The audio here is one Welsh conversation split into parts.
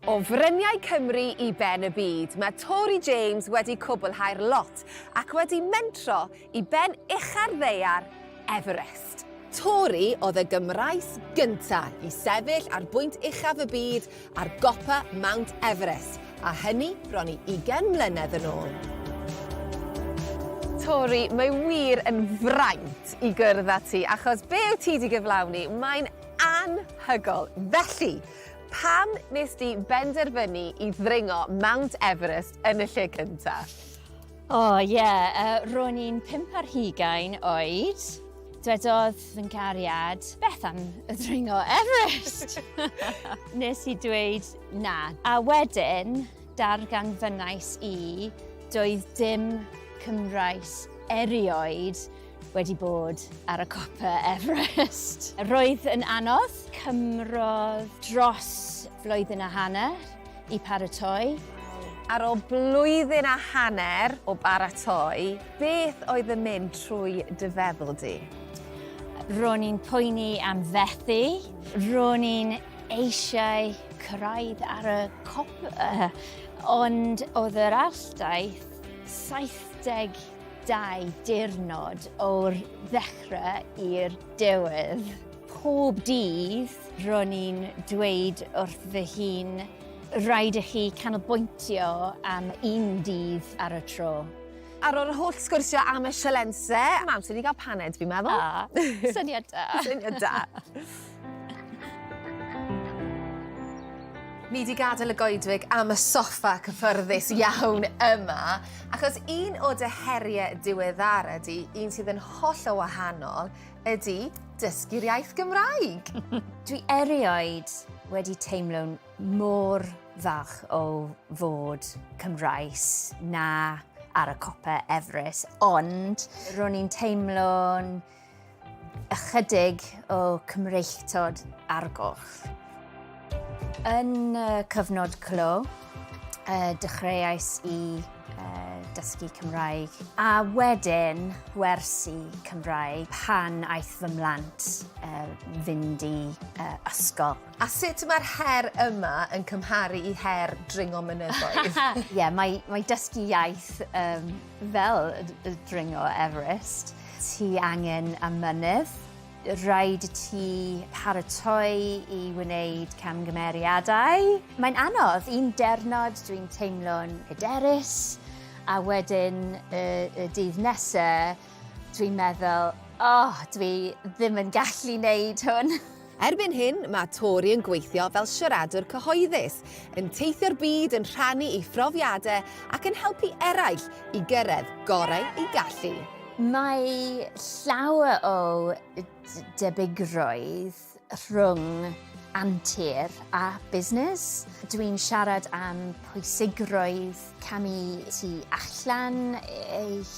O fryniau Cymru i ben y byd, mae Tori James wedi cwblhau'r lot ac wedi mentro i ben ucha'r ddaear, Everest. Tori oedd y Gymraes gynta' i sefyll ar bwynt uchaf y byd ar gopa Mount Everest, a hynny bron i ugain mlynedd yn ôl. Tori, mae wir yn fraint i gwrdd â ti, achos be' wyt ti 'di gyflawni, mae'n anhygol. Felly, Pam nes di benderfynu i ddringo Mount Everest yn y lle cynta? O oh, ie, yeah. uh, ro'n i'n pimp ar hugain oed. Dwedodd fy gariad, beth am y ddringo Everest? nes i dweud na. A wedyn, darganfynnais i, doedd dim Cymraes erioed wedi bod ar y copa Everest. Roedd yn anodd, cymrodd dros flwyddyn a hanner i paratoi. Ar ôl blwyddyn a hanner o baratoi, beth oedd yn mynd trwy dy feddwl di? Ro'n i'n poeni am fethu, ro'n i'n eisiau cyrraedd ar y cop, ond oedd yr alldaith 70 Dau diwrnod o'r ddechrau i'r diwedd. Pob dydd ro'n i'n dweud wrth fy hun, rhaid i chi canolbwyntio am un dydd ar y tro. Ar ôl yr holl sgwrsio am y sialensau, mae amser i ni gael paned, fi'n meddwl. A, syniad da! Syniad da. Ni wedi gadael y goedwig am y soffa cyffyrddus iawn yma, achos un o dy heriau diweddara di, un sydd yn holl o wahanol, ydy dysgu'r iaith Gymraeg. Dwi erioed wedi teimlo'n mor falch o fod Cymraes na ar y copa Everest, ond ro'n i'n teimlo'n Ychydig o Cymreictod ar goll. Yn y cyfnod clo, uh, dechreuais i uh, dysgu Cymraeg a wedyn gwersi Cymraeg pan aeth fy mlant uh, fynd i uh, ysgol. A sut mae'r her yma yn cymharu i her dringo mynyddoedd? Ie, yeah, mae, mae dysgu iaith um, Fel y dringo Everest, ti angen y mynydd. Rhaid i ti paratoi i wneud camgymeriadau. Mae'n anodd. Un diwrnod dwi'n teimlo'n hyderus a wedyn y y dydd nesa dwi'n meddwl, 'O, dwi ddim yn gallu neud hwn. Erbyn hyn, mae Tori yn gweithio fel siaradwr cyhoeddus, yn teithio'r byd yn rhannu ei phrofiadau ac yn helpu eraill i gyrraedd gorau eu gallu. Mae llawer o debygrwydd rhwng antur a busnes. Dw i'n siarad am pwysigrwydd camu tu allan eich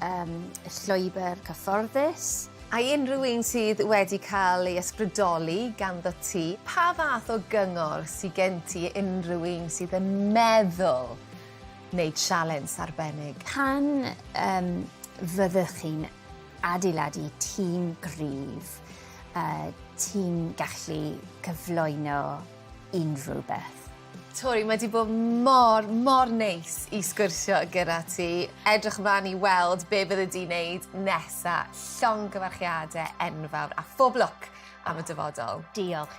um, llwybr cyfforddus, A i unrhyw un sydd wedi cael ei ysbrydoli ganddo ti, pa fath o gyngor sydd gen ti unrhyw un sydd yn meddwl wneud sialens arbennig? Pan um, fyddwch chi'n adeiladu tîm gryf, uh, ti'n gallu cyflwyno unrhyw beth. Tori, mae di bod mor, mor neis i sgwrsio gyda ti. Edrych ymlaen i weld be bydde di'n neud nesa. Llong gyfarchiadau enfawr a phob lwc am y dyfodol. Diolch.